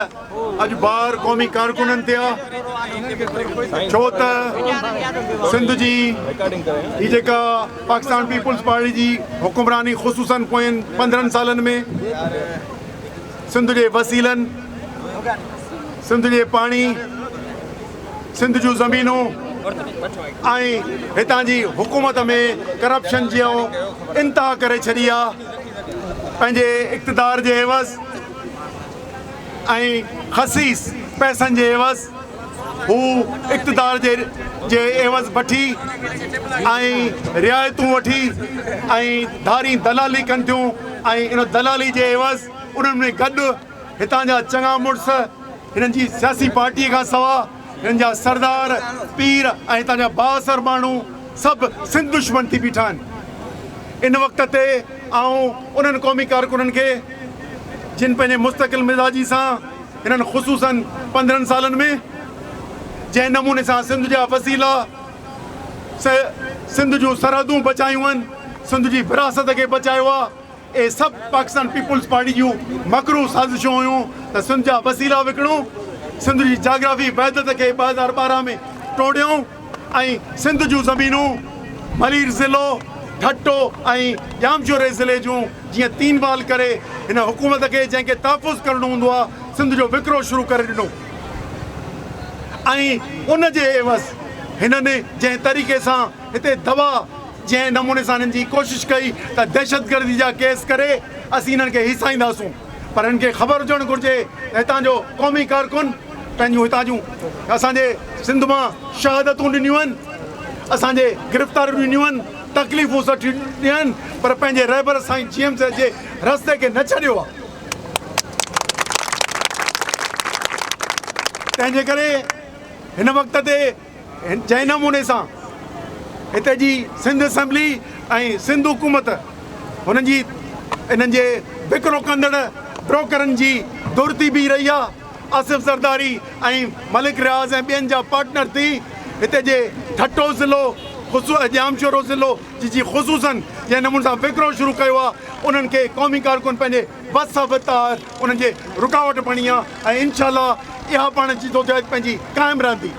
اڄ بار قومي ڪارڪنن تي آ ڇو ته سنڌ جي هي جيڪا پاڪستان پيپلز پارٽي جي حڪمراني خصوصن پوين پندرهن سالن ۾ سنڌ جي وسيلن سنڌ جي پاڻي سنڌ جون زمينون ۽ هتان جي حڪومت ۾ ڪرپشن جي انتها ڪري ڇڏي آ پنهنجي اقتدار جي عوض ۽ خسيس پئسن جي عيوض هو اقتدار جي جي عيوض بٺي ۽ رعايتون وٺي ۽ ڌارين دلالي ڪن ٿيون ۽ ان دلالي جي عيوض انهن ۾ گڏ هتان جا چڱا مڙس هنن جي سياسي پارٽي کان سوا هن جا سردار، پير ۽ هتان جا بااثر ماڻهو سڀ سنڌ دشمن ٿي بيٺا آهن. ان وقت تي آئون انهن قومي ڪارڪنن کي جن پنهنجي مستقل مزاجي سان هنن خصوصاً پندرهن سالن ۾ جنهن نموني سان سنڌ جا وسيلا سنڌ جون سرحدون بچايون آهن، سنڌ جي وراثت کي بچايو آهي، اهي سڀ پاڪستان پيپلز پارٽي جون مڪروهه سازشون هيون ته سنڌ جا وسيلا وڪڻون، سنڌ جي جاگرافي وحدت کي ٻه هزار ٻارهن ۾ ٽوڙيون ۽ سنڌ جون زمينون ملير ضلعو، ٺٽو ۽ ڄامشوري ضلعي جون جيئن تين بال ڪري هن حڪومت کي جنهن کي تحفظ ڪرڻو هوندو آهي سنڌ جو وڪرو شروع ڪري ڏنو ۽ ان جي عيوض هنن جنهن طريقي سان هتي دوا جنهن نموني سان هنن جي ڪوشش ڪئي ته دهشتگردي جا ڪيس ڪري اسين هنن کي هيسائينداسون پر هنن کي خبر هجڻ گهرجي ته هتان جو قومي ڪارڪن پنهنجون هتان جون اسان جي سنڌ مان شهادتون ڏنيون آهن اسان جي گرفتاريون ڏنيون آهن تڪليفون سٺيون ڏنيون آهن پر پنهنجي رهبر سائين جي ايم سي جي رستي کي نه ڇڏيو آهي تنهنجي ڪري هن وقت تي جنهن نموني سان هتي جي سنڌ اسيمبلي ۽ سنڌ حڪومت هنن جي انهن جي وڪرو ڪندڙ بروڪرن جي ڌر ٿي بيهي رهي آهي آصف زرداري ۽ ملڪ رياض ۽ ٻين جا پارٽنر ٿي هتي جي ٺٽو ضلعو خصو ڄامشورو ضلعو جي جي خصوصن جنهن نموني سان وڪرو شروع ڪيو آهي انهن کي قومي ڪارڪن پنهنجي بس اهو تار انهن جي رڪاوٽ بڻي آ ۽ انشاء الله اها پاڻ جدوجهد پنهنجي قائم رهندي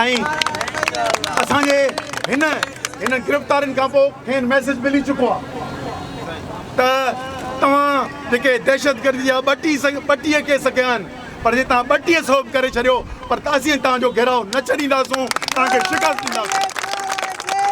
۽ اسان جي هن هنن گرفتارين کان پوء کين ميسيج ملي چڪو آ ته توهان جيڪي دهشتگردي جا ٻٽي ٻٽيهه ڪيس ڪيا آهن پر جي توهان ٻٽيهه سئو به ڪري ڇڏيو پر اسين توهان جو گهيراء نه ڇڏينداسون توهان کي شڪست ڏينداسون.